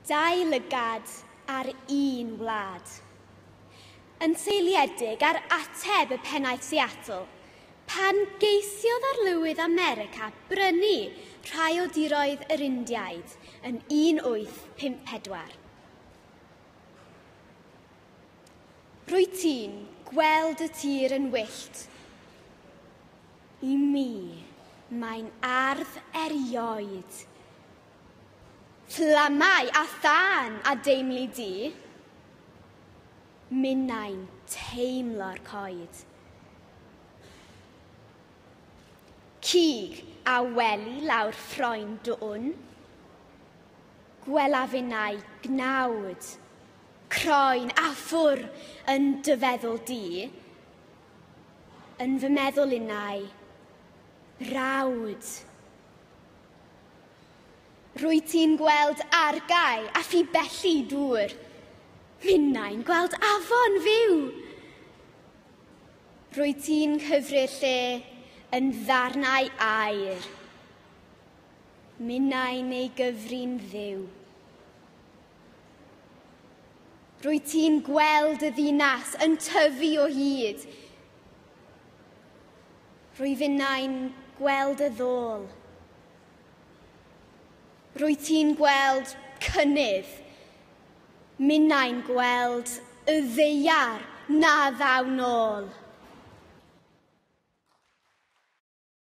Dau lygad ar un wlad. Yn seiliedig ar ateb y pennaeth Seattle, pan geisiodd arlywydd America brynu rhai o diroedd yr Indiaid yn 1854. Rwy ti'n gweld y tir yn wyllt. I mi, mae'n ardd erioed. Fflamau a thân a deimli di, minnau'n teimlo'r coed. Cig a wely lawr ffroen dwn, gwela finnau gnawd, croen a ffwr yn dy feddwl di, Yn fy meddwl innau, brawd. Rwy ti'n gweld argae a phi belli dŵr. Minnau'n gweld afon fyw. Rwy ti'n cyfri'r lle yn ddarnau air. Minnau neu gyfrin ddiw. Rwyt ti'n gweld y ddinas yn tyfu o hyd. Rwyf innau'n gweld y ddôl. Rwyt ti'n gweld cynnydd. Minnau'n gweld y ddeiar na ddaw nôl.